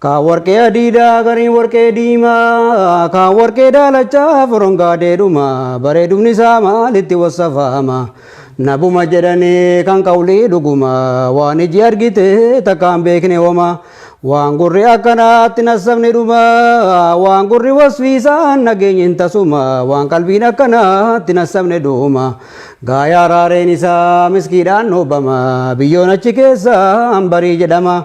Kaan warqee adiidhaa gariin warqee diimaa kaan warqee daalachaa furon gaadeedhuma bareedumni isaa maalitti wassafaama nabuma jedhanii kan qawlii dhuguma waan iji argite takkaan beekne homa waan gurri akkanaatti nassabni dhuma waan gurri wasfiisaan nageenyi hin tasuma waan qalbiin akkanaatti nassabne dhuma gaayaa raareen isaa miskiidhaan dhoobama biyyoon achi keessa hambarii jedhama.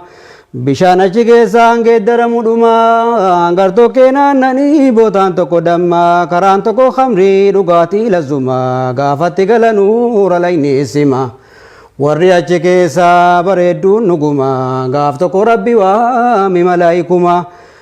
Bishaan achi keessaan geeddaramu dhuma gartokkee naannanii bootaan tokko damma karaan tokko khamrii dhugaatii lazzuma gaafatti galanu ralayni isima warri achi keessaa bareedduun dhuguma gaaf tokko rabbi waami malaayikuma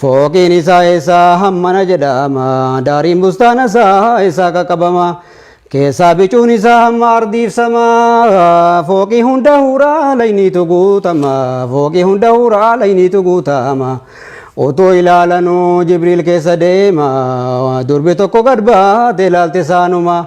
Fooqiin isaa eessaa hammana jedhama, daariin bustaana isaa eessaa qaqqabama. Keessaa bicuun isaa hamma ardiif sama, fooqii hunda huuraa layniitu guutama, fooqii hunda huuraa layniitu guutama. Utuu ilaalanuu Jibriil keessa deema, durbi tokko gad baate ilaalte saanuma.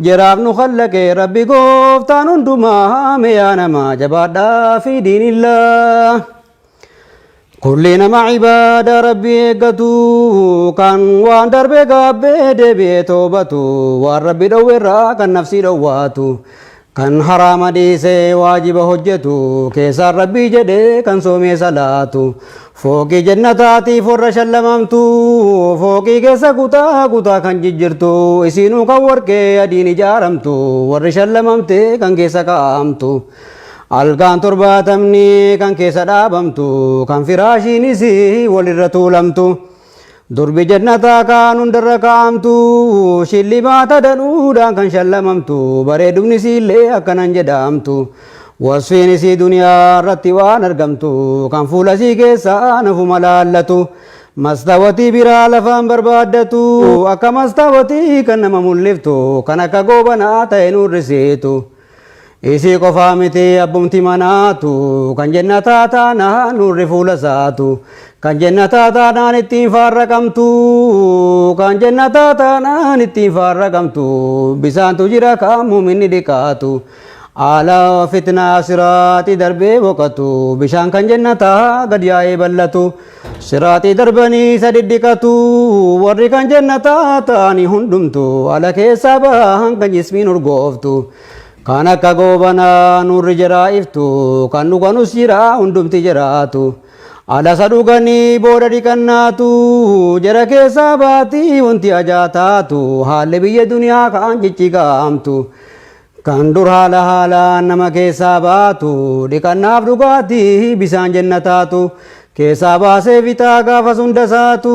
Jaraaf nu khallaqe rabbi gooftaan hundumaa me yaa namaa jabaadhaa fi diinillaa. Kulli nama ibaada rabbi eeggatu kan waan darbe gaabbee deebi'ee toobatu waan rabbi dhowwerraa kan nafsii dhowwaatu kan haraama dhiisee waajiba hojjetu keessaan rabbii jedhee kan soomee salaatu Fooqii jennataatiif warra shallamamtu, fooqii keessa kutaa kutaa kan jijjirtu, isiinuu kan warqee adiin ijaaramtu, warri shallamamtee kan keessa kaa'amtu, algaan torbaatamni kan keessa dhaabamtu, kan firaashiin isii wal irra tuulamtu. Durbi jannataa kaan hundarra kaa'amtu shillimaata danuudhaan kan shallamamtu bareedumni isiillee akkanan jedhaamtu wasfiin isii duniyaa irratti waan argamtu kan fuula isii keessaa nafuma laallatu mastawatii biraa lafaan barbaaddatu akka mastawatii kan nama mul'iftu kan akka goobanaa ta'e nuurrisiitu. Isii qofaa miti abbumti manaatu kan jennataa taanaan nurri fuula isaatu kan jennataa taanaan ittiin faarra qabmtu kan jennataa taanaan ittiin faarra qabmtu bisaantu jira kan muminni dhiqaatu ala fitnaa siraati darbee boqatu bishaan kan jennataa gad yaa'ee bal'atu. Siraaxii darbanii isa dhidhiqatu warri kan jannataa ta'ani hundumtu ala keessaa bahan kan jismiin urgooftu kan akka goobanaa nurri jiraa iftu kan dhuganus jiraa hundumti jiraatu alasa dhuganii booda dhiqannaatu jara keessaa baatii wanti ajaa taatu haalli biyya duniyaa kaan ciccigaamtu Kan dur haala haalaan nama keessaa baatu, dhiqannaaf dhugaatii bisaan jennataatu, keessaa baasee fixaa gaafas hunda saatu,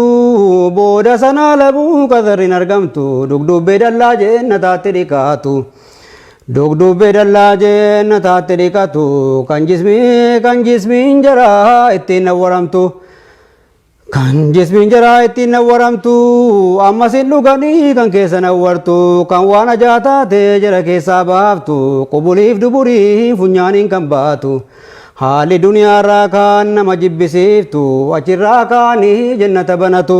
booda sanaa labuu qasarri hin argamtu, dugduubbee dallaa jennataatti dhiqatu. Dugduubbee dallaa jennataatti dhiqatu, kan jismii kan jismiin jaraa ittiin nawwaramtu. Kan jismiin jaraa ittiin nawwaramtu ammas hin dhuganii kan keessa nawwartu kan waan ajaa taatee jara keessaa baaftu qubuliif duburii funyaaniin kan baatu haalli duniyaarraa kaan nama jibbisiiftu achirraa kaanii jennata banatu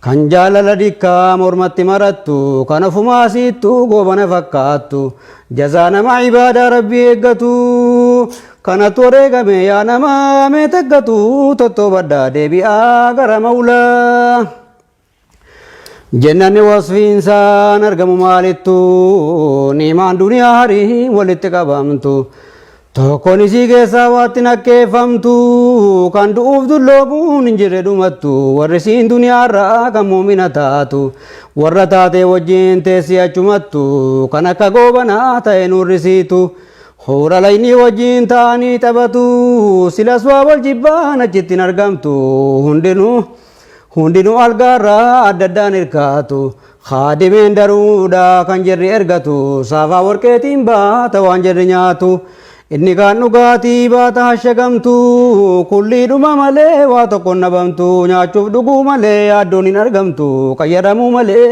Kan jaalala dikkaa mormatti marattu kan ofumaa siittu goobana fakkaattu jazaa nama ibaadaa rabbii eeggatu kanatu wareegame yaa nama mee taggatu tottoobadhaa deebi'aa gara mawlaa. Jennanni wasfiinsaan argamu maalittu niimaan duniyaa harii walitti qabamtu. Tokkon isii keessaa waatti nakkeeffamtu, kan du'uuf dulloomuun hin jirre dhumattu, warri siin duniyaarraa kan muumina taatu, warra taatee wajjin teessi achumattu, kan akka goobanaa ta'e nuurrisiitu, huura laynii wajjin taa'anii taphatu, silas waa wal jibbaan achitti hin argamtu, hundinuu. Hundinuu algaarraa adda addaan hirkaatu. Khaadimeen daruudha kan jirri ergatu. Saafaa warqeetiin baata waan jirri nyaatu. Inni kaan dhugaatii baata hashagamtu. Kulliidhuma malee waa tokkoon dhabamtu. Nyaachuuf dhuguu malee yaaddoon hin argamtu. Qayyadamuu malee.